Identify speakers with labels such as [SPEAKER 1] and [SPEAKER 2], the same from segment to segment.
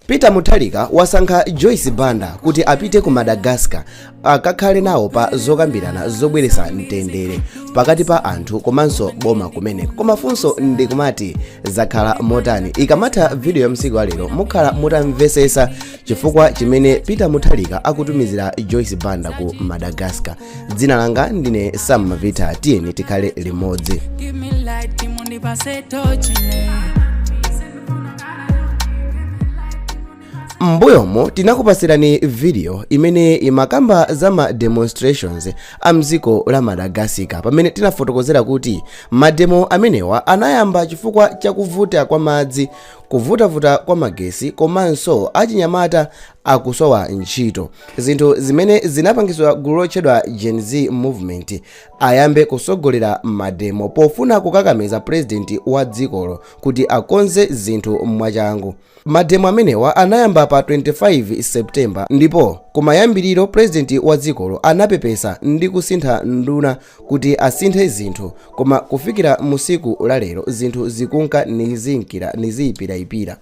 [SPEAKER 1] Peter Mutharika wasankha Joyce Banda kuti apite ku Madagascar akakhale nawo pa zokambirana zobweretsa mtendere pakati pa anthu komanso boma kumeneko. Koma funso ndi kumati zakhala motani? Ikamatha video ya msiku wa lero mukhala mutamvesesa chifukwa chimene Peter Mutharika akutumizira Joyce Banda ku Madagascar. dzina langa ndine sam mavita tiyeni tikhale limodzi m'mbuyomo tinakupasirani video imene imakamba za ma demonstrations a mdziko la madagascar pamene tinafotokozera kuti mademo amenewa anayamba chifukwa cha kuvuta kwa madzi kuvutavuta kwa magesi komanso achinyamata akusowa ntchito zinthu zimene zinapangitsa gulu lotchedwa gen z movement ayambe kusogolera mademo pofuna kukakamiza purezidenti wa dzikolo kuti akonze zinthu mwachangu mademo amenewa anayamba pa 25 septemba ndipo kumayambiriro purezidenti wa dzikolo anapepesa ndi kusintha nduna kuti asinthe zinthu koma kufikira musiku lalero zinthu zikunka niziyipirayipira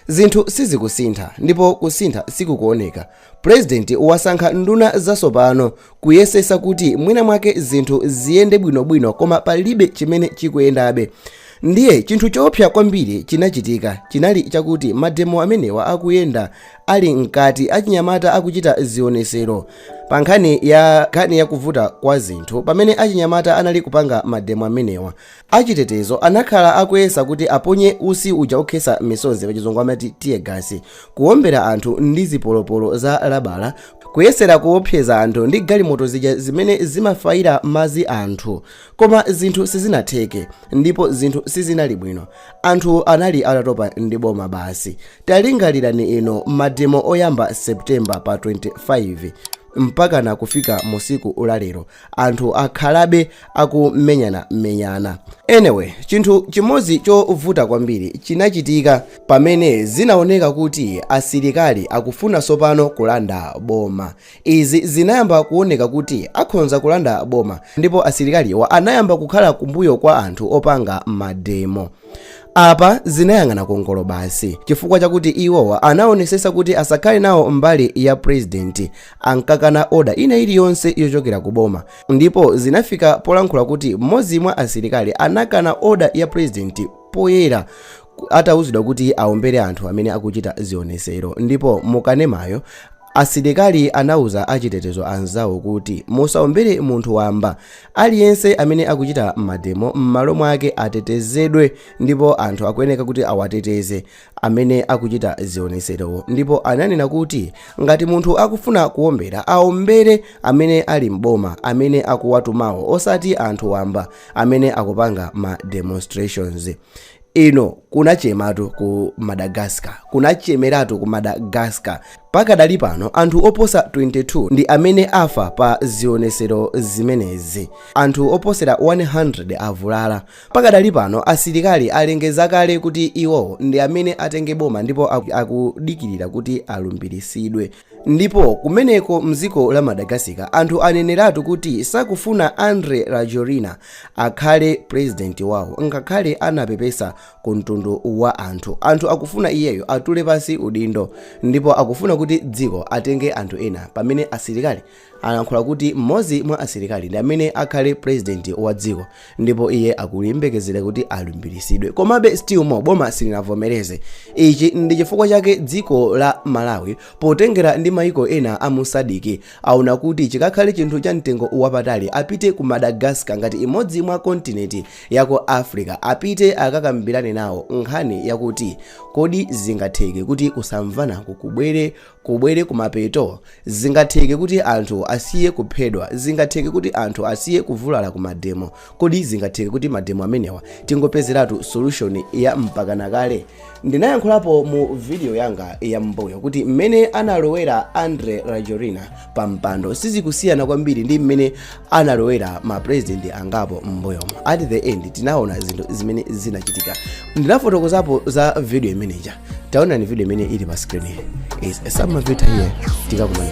[SPEAKER 1] Zinthu sizikusintha ndipo kusintha sikukuoneka. President wasankha nduna zasopano kuyesesa kuti mwina mwake zinthu ziyende bwino bwino koma palibe chimene chikuyendabe. Ndiye chinthu choopsa kwambiri chinachitika chinali chakuti mademo amenewa akuyenda ali mkati achinyamata akuchita zionesero pa nkhani ya nkhani yakuvuta kwa zinthu pamene achinyamata anali kupanga mademo amenewa Achitetezo anakhala akuyesa kuti aponye usi uja okhetsa misonzi, pachizungu amati tear gas, kuwombera anthu ndi zipolopolo za labala, kuyesera kuwopseza anthu ndi galimoto zija zimene zimafayira madzi anthu. Koma zinthu sizinatheke, ndipo zinthu sizinali bwino. Anthu anali atatopa ndi boma basi. Talingalirani ino mademo oyamba September pa 25 mpakana kufika musiku la lero, anthu akhalabe akumenyana menyana anyway chinthu chimodzi chovuta kwambiri chinachitika pamene zinaoneka kuti asilikali akufuna sopano kulanda boma izi zinayamba kuoneka kuti akhonza kulanda boma ndipo asilikaliwa anayamba kukhala kumbuyo kwa anthu opanga mademo apa zinayang'ana kungolo basi chifukwa chakuti iwowa anaonesesa kuti asakhale nawo mbali ya purezidenti ankakana oda ina iliyonse yochokera ku boma ndipo zinafika polankhula kuti mmodzi mwa asilikali anakana oda ya purezidenti poyera atauzidwa kuti aombere anthu amene akuchita zionesero ndipo mukanemayo asilikali anauza achitetezo anzawo kuti musaombere munthu wamba aliyense amene akuchita mademo m'malo mwake atetezedwe ndipo anthu akuyeneka kuti awateteze amene akuchita zionetserowo ndipo ananena kuti ngati munthu akufuna kuombera aombere amene ali m'boma amene akuwatumawo osati anthu wamba amene akupanga ma demonstrations ino kunachematu ku madagascar kunachemeratu ku madagascar pakadali pano anthu oposa 22 ndi amene afa pa zionetsero zimenezi anthu oposera 100 avulala Pakadali pano asilikali alengeza kale kuti iwowo ndi amene atenge boma ndipo akudikirira kuti alumbilisidwe. Ndipo kumeneko mziko la Madagascar anthu aneneratu kuti sakufuna Andry Rajoelina akhale president wawo ngakhale anapepesa ku mtundu wa anthu. Anthu akufuna iyeyo atule pansi udindo ndipo akufuna kuti dziko atenge anthu ena pamene asilikali alankhula kuti mmodzi mwa asilikali ndi amene akhale purezidenti wa dziko ndipo iye akuyembekezera kuti alumbiritsidwe komabe still more boma silinavomereze ichi ndi chifukwa chake dziko la malawi potengera ndi maiko ena a mu SADC aona kuti chikakhale chinthu cha mtengo wapatali apite ku madagascar ngati imodzi mwa kontinenti ya ku africa apite akakambirane nawo nkhani yakuti kodi zingatheke kuti kusamvana ku kubwere kubwere kumapeto? Zingatheke kuti anthu asiye kuphedwa? Zingatheke kuti anthu asiye kuvulala ku mademo? Kodi zingatheke kuti mademo amenewa tingopezeratu solution ya mpakana kale? Ndinayankhulapo mu video yanga ya m'mbuyo kuti mmene analowera Andry Rajoelina pa mpando sizikusiyana kwambiri ndi mmene analowera ma president angapo m'mbuyomo at the end tinaona zinthu zimene zinachitika ndinafotokozapo za video imeneja taonani video imene ili pa screen is some of it here tikakumana